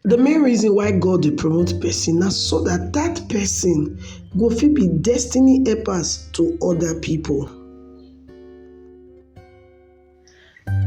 The main reason why God dey promote person na so that that person go fit be destiny helpers to other people.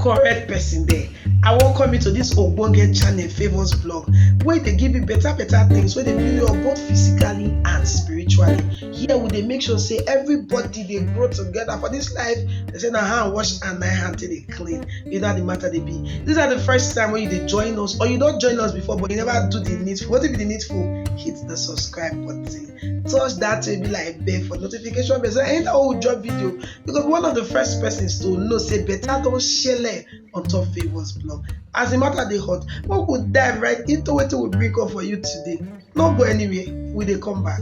correct person there i welcome you to this ogbonge channel favours blog wey dey give you better better things wey dey build you up both physically and spiritually here we dey make sure say everybody dey grow together for this life they say na hand wash and na hand take dey clean you know how the matter they be these are the first time when you dey join us or you don't join us before but you never do the needful wetin be the needful hit the subscribe button touch that will be like bell for notification bell so anytime we drop video you go be one of the first persons to know say better don shele on top favours blog as the matter they hot we go dive right into what we bring up for you today no go anywhere we they come back.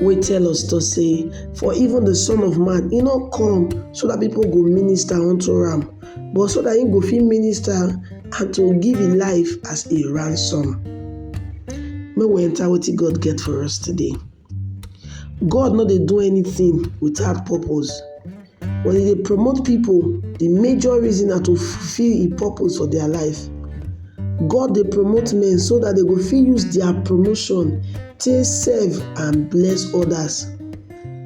wey tell us to say, For even the Son of Man, he not come so that people go minister unto him, but so that he go fit minister and to give his life as a ransom. May we enter what God get for us today. God not they do anything without purpose. Wen you dey promote pipu, de major reason na to fulfil im purpose for dia life. God dey promote men so dat dem go fit use dia promotion take serve and bless odas.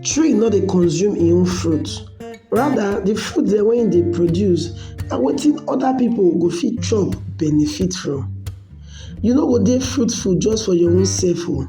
Tree no dey consume im own fruit, rather de fruit dem wey im dey produce na wetin oda pipu go fit chop benefit from. You no go dey fruitful just for your own sef oo.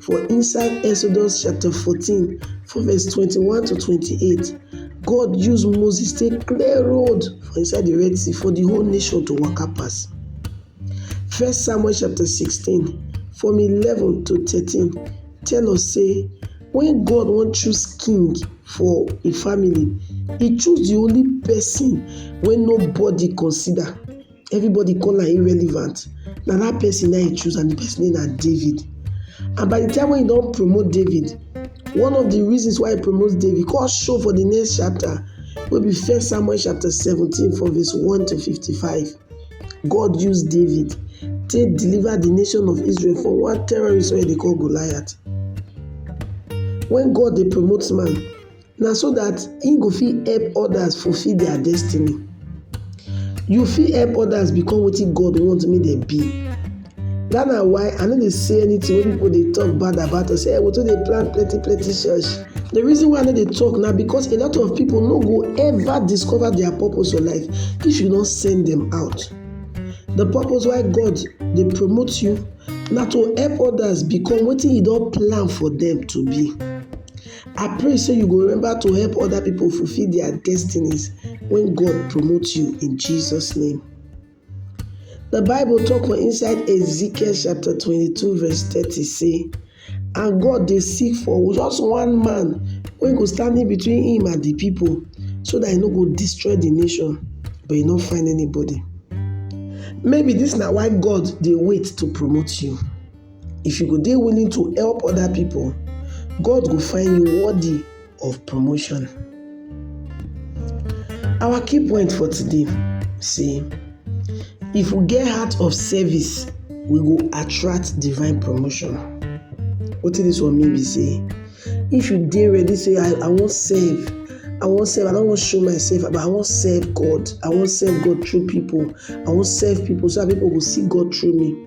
For inside Exodus chapter 14 from verse 21 to 28, God use Moses take clear road for inside the Red Sea for the whole nation to waka pass. First Samuel chapter 16 from 11 to 13 tell us say when God wan choose king for a family, he choose the only person wey nobody consider. everybody call am irrelevant na that person na he choose and the person name na David and by the time when he don promote David one of the reasons why he promote David come show for the next chapter wey be first Samuel chapter seventeen from verse one to fifty-five God use David take deliver the nation of Israel from one terrorist wey dey call Goliath when God dey promote man na so dat im go fit help others fulfill their destiny. You fit help others become wetin God want make dem be. Dat na why I no dey say anything wey people dey talk bad about us. Say hey, we too dey plan plenty plenty church. The reason why I no dey talk na because a lot of people no go ever discover their purpose for life if you no send them out. The purpose why God dey promote you na to help others become wetin you don plan for them to be. I pray say you go remember to help other people fulfill their destinies when God promotes you in Jesus' name. The Bible talk for inside Ezekiel chapter 22 verse 30 say, And God dey seek for just one man wey go stand in between him and the people so that he no go destroy the nation, but he no find anybody. Maybe this na why God dey wait to promote you. If you go dey willing to help other people, God go find you worthy of promotion. Our key point for today say if we get heart of service, we go attract divine promotion. Wetin dis one mean be say if you dey ready say I, I wan serve, I wan serve, I no wan show myself, but I wan serve God, I wan serve God through people, I wan serve people so that people go see God through me.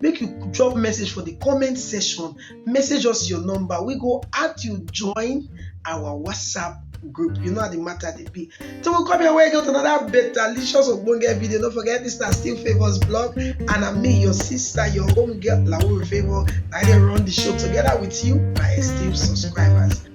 make you drop message for the comment section message us your number we go add you join our whatsapp group you know how the matter dey be so we come here wey get another better licious ogbonge video no forget this na still favours blog and na me your sister your home girl lauru favour na i dey run the show together with you my esteemed subscribers.